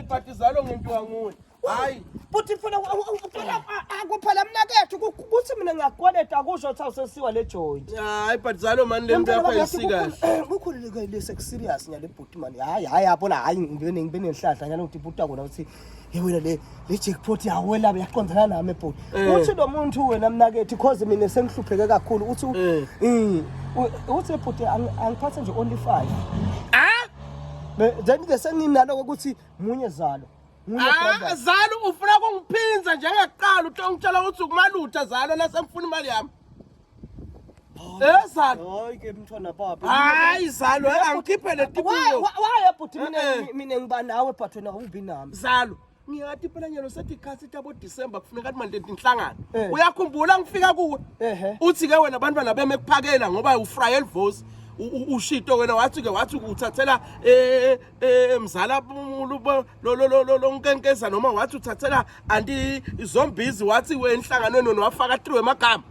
Ibhadi zalo ngenziwa nguye. Hayi. Futhi mfana ucela akuphela mina kethu kuthi mina ngiyakweleta akusho ukuthi awusesiwa le joint. Hayi ibhadi zalo mani le nto yakho ayisikahle. Eh, Kukhululeke lese ku serious nyale bhuti mani. Hayi hayi yabona hayi ngibe ngibe nenhlahla nyalo ukuthi bhuti akona ukuthi hey wena le le jackpot yawela yaqondana nami bhuti. Eh. Uthi lo muntu wena mnakethi cause mina sengihlupheke kakhulu uthi Eh. eh, u- uthi bhuti ang- angiphathe nje only 5. then-ke senginaloko ukuthi munye zalo ah, zalo ufuna kungiphinza njengakuqala uthi ongitshela ukuthi ukumalutha zalo nasemfuna imali yami ezalo eh, hayi zalo eh, angikhiphe le tibuyo waye bhuti mina eh, ngibanawe but wena awubi nami zalo ngiyati phela nyalo setikhatsi tabo December kufuneka manje inhlangano eh. uyakhumbula ngifika kuwe uthi ke wena abantwana beme kuphakela ngoba ufrayel voice ushito wena wathi ke wathi uthathela eh, eh, emzala lonkenkeza noma wathi uthathela anti izombizi wathi wenhlanganweni wafaka 3 wemagama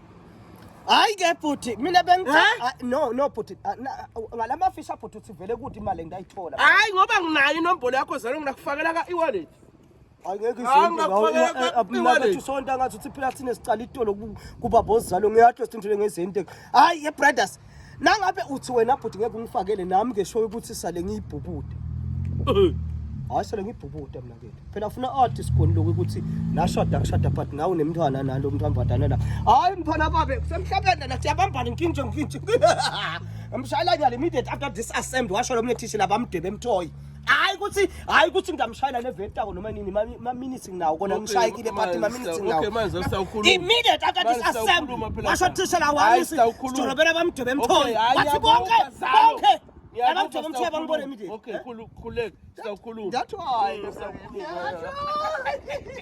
Hayi ke bhuti mina bengithi Eh? ah, no no bhuti ah, na- ngalamafisha bhuti uthi vele kuthi imali engayithola. hayi ngoba nginayo inombolo yakho zalo nginakufakela ka e-wallet Hayi ngeke Ah, izonto ngakufakela ngawo kwa- abumnaka iwallet. uthi sonto angathi uthi phela thina sicala itolo ku- kubaba ozalo ngiyatrust into lengezente. Hayi ye brothers Nangabe uthi wena bhuti ngeke ungifakele nami ke show ukuthi sale ngiyibhubude. Hayi sale ngiyibhubude mina ke. Phela ufuna art isikoni lokho ukuthi nashada kushada but nawe nemntwana nalo mntwana badana la. Hayi mfana babe kusemhlabeni la siyabambana inkingi nje mfithu. Amshayela nyali immediate after this assembly washo lo mnethishi labamdebe emthoyi. hayi ukuthi hayi ukuthi ngingamshayela nevetako noma nini maminisi nginawo kona ngishayekile but maminisi nginawo immediate after this assembly washo thishela wami sidorobela bamdwebe emthole wathi konke konke abamdwebe emthole bangibone immediate okay khuleka sawukhuluma